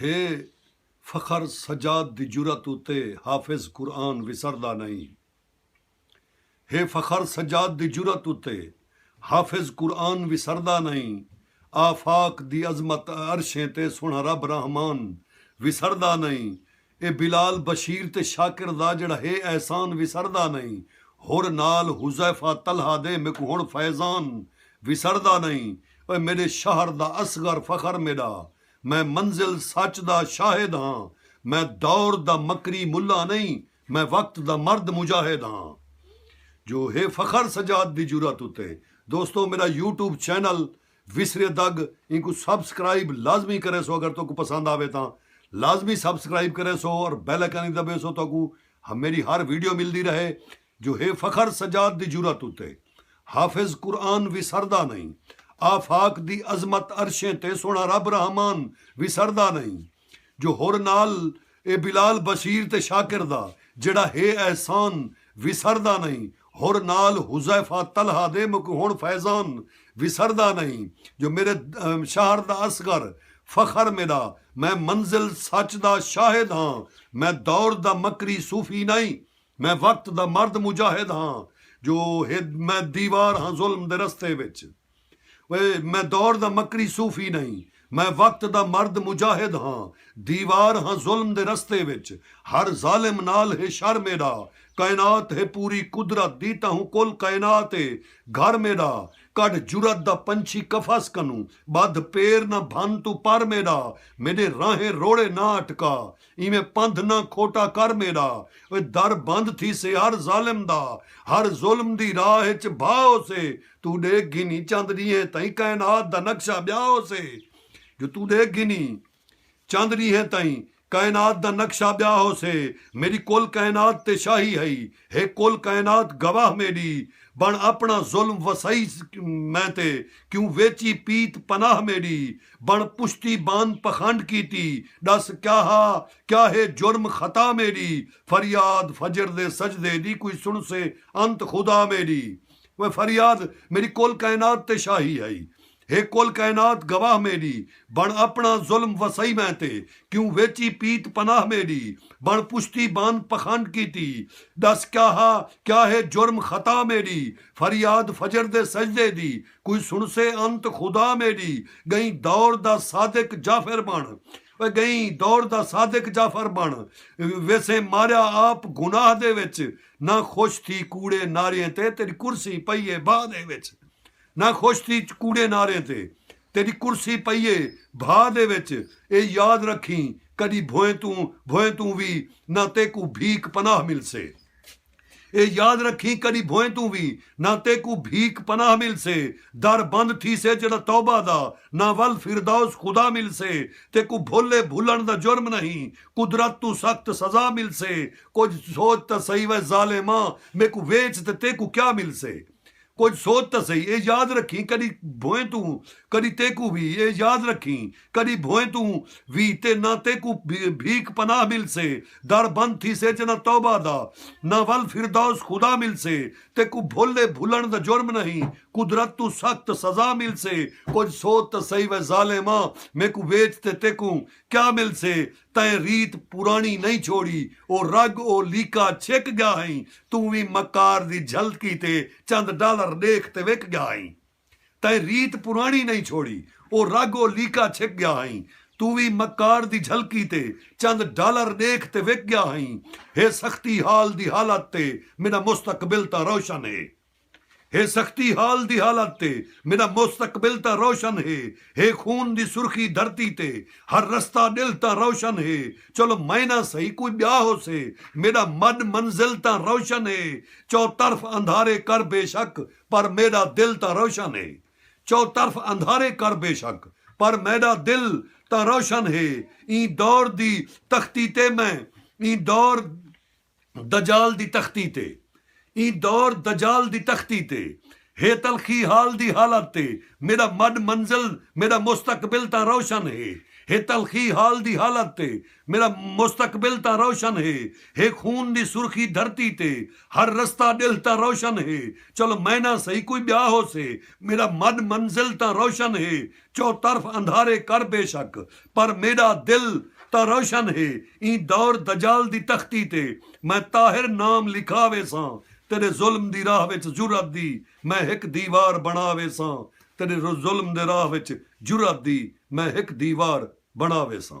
ہے فخر سجاد دی جرات اتے حافظ قرآن وسردا نئیں ہے فخر سجاد دی جرات اتے حافظ قرآن وسردا نئیں آفاق دی عظمت عرشیں تے سوہݨا رب رحمان وسردا نئیں اے بلال بشیر تے شاکر دا جیڑھا ہے احسان وسردا نئیں ہور نال حذیفہ طلحہ دے میکوں ہن فیضان وسردا نئیں اوئے میڈے شہر دا اصغر فخر میڈا میں منزل سچ دا شاہد ہاں میں دور دا مکری ملا نئیں میں وقت دا مرد مجاہد ہاں جو ہے فخر سجاد دی جرات اتے دوستو میڈا یوٹیوب چینل وسرے دگ اینکوں سبسکرائب لازمی کریسو اگر تہاکوں پسند آوے تاں لازمی سبسکرائب کریسو اور بیل آئیکن وی دبیسو تہاکوں میری ہر ویڈیو ملدی رہے جو ہے فخر سجاد دی جرات اتے حافظ قرآن وسردا نہیں آفاق دی عظمت عرشیں تے سوہنڑا رب رحمان وسردا نہیں۔ جو ہور نال اے بلال بشیر تے شاکر دا جیڑھا ہے احسان وسردا نئیں ہور نال حذیفہ طلحہ دے مکوں ہن فیضان وسردا نئیں جو میڈے شہر دا اصغر فخر میڈا میں منزل سچ دا شاہد ہاں میں دور دا مکری صوفی نئیں میں وقت دا مرد مجاہد ہاں جو میں دیوار ہاں ظلم دے رستے وچ۔ اوئے میں دور دا مکری صوفی نئیں میں وقت دا مرد مجاہد ہاں دیوار ہاں ظلم دے رستے وچ ہر ظالم نال ہے شر میݙا کائنات ہے پوری قدرت دی تہوں کل کائنات اے گھر میݙا کڈھ جرات دا پنچھی قفس کنوں ٻدھ پیر نہ بھن توں پر میݙا میݙے راہیں روڑے نہ اٹکا ایویں پندھ نہ کھوٹا کر میݙا اوئے در بند تھیسے ہر ظالم دا ہر ظلم دی راہ اچ بھا ہوسے توں ݙیکھ گھنیں چند ݙینہہ تئیں کائنات دا نقشہ ٻیا ہوسے جو توں ݙیکھ گھنیں چند ݙینہہ تئیں کائنات دا نقشہ ٻیا ہوسے میݙی کل کائنات تے شاہی ہئی ہک کل کائنات گواہ میݙی بݨ اپݨا ظلم وسائی میں تے کیوں ویچی پیت پناہ میݙی بݨ پشتی بان پخنڈ کیتی ݙس کیا ہا کیا ہے جرم خطا میݙی فریاد فجر دے سجدے دی کوئی سݨسے انت خدا میݙی وے فریاد میݙی کل کائنات تے شاہی ہئی ہے کل کائنات گواہ میݙی بݨ اپݨا ظلم وسائی میں تے کیوں ویچی پیت پناہ میݙی بݨ پچھتی بان پخنڈ کیتی ݙس کیا ہا کیا ہے جرم خطا میݙی فریاد فجر دے سجدے دی کوئی سݨسے انت خدا میݙی ڳئیں دور دا صادق جعفر بݨ پئے ڳئیں دور دا صادق جعفر بݨ ویسیں ماریا آپ گناہ دے وچ نہ خوش تھی کوڑے نعریں تے تیݙی کرسی پئی اے بھا دے وچ نہ خوش تھی کوڑے نعریں تے تیݙی کرسی پئی اے بھا دے وچ اے یاد رکھیں کݙی بھوئیں توں بھوئیں توں وی نہ تیکوں بھیک پناہ ملسے۔ اے یاد رکھیں کݙی بھوئیں توں وی نہ تیکوں بھیک پناہ ملسے در بند تھیسے جیڑھا توبہ دا نہ ول فردوس خدا ملسے تیکوں بھل اے بھلݨ دا جرم نہیں قدرت توں سخت سزا ملسے کجھ سوچ تاں سہی وے ظالماں میکوں ویچ تے تیکوں کیا ملسے کجھ سوچ تاں سہی اے یاد رکھیں کڈی بھوئیں توں کڈی تیکوں وی اے یاد رکھیں کڈی بھوئیں توں وی تے نہ تیکوں بھیک پناہ ملسے در بند تھیسے چہ نہ توبہ دا نہ ول فردوس خدا ملسے تیکوں بھل اے بھلنڑ دا جرم نہیں قدرت توں سخت سزا ملسے کجھ سوچ تاں سہی وے ظالماں میکوں ویچ تے تیکوں کیا ملسے تئیں ریت پراݨی نئیں چھوڑی او رڳ او لیکا چھک ڳیا ہئیں توں وی مکار دی جھل کیتے چند ڈالر ݙیکھ تے وک ڳیا ہئیں تئیں ریت پراݨی نئیں چھوڑی او رڳ او لیکا چھک ڳیا ہئیں توں وی مکار دی جھل کیتے چند ڈالر ݙیکھ تے وک ڳیا ہئیں ہے سختی حال دی حالت تے میݙا مستقبل تاں روشن ہے۔ ہے سختی حال دی حالت تے میݙا مستقبل تاں روشن ہے ہے خون دی سرخی دھرتی تے ہر رستہ ݙلھ تاں روشن ہے چلو میں نہ سہی کوئی ٻیا ہوسے میݙا مݙ منزل تاں روشن ہے چوطرف اندھارے کر بے شک پر میݙا دل تاں روشن ہے چوطرف اندھارے کر بے شک پر میݙا دل تاں روشن ہے ایں دور دی تختی تے میں ایں دور دجال دی تختی تے ایں دور دجال دی تختی تے ہے تلخی حال دی حالت تے میڈا مڈ منزل میڈا مستقبل تاں روشن ہے ہے تلخی حال دی حالت تے میڈا مستقبل تاں روشن ہے ہے خون دی سرخی دھرتی تے ہر رستہ ڈیہہ تاں روشن ہے چلو مینا سہی کوئی بیا ہوسے میڈا مڈ منزل تاں روشن ہے چوطرف اندھارے کر بے شک پر میݙا دل تاں روشن ہے ایں دور دجال دی تختی تے میں طاہر نام لکھا ویساں تیݙے ظلم دی راہ وچ جرات دی میں ہک دیوار بݨا ویساں تیݙے ظلم دے راہ وچ جرات دی میں ہک دیوار بݨا ویساں۔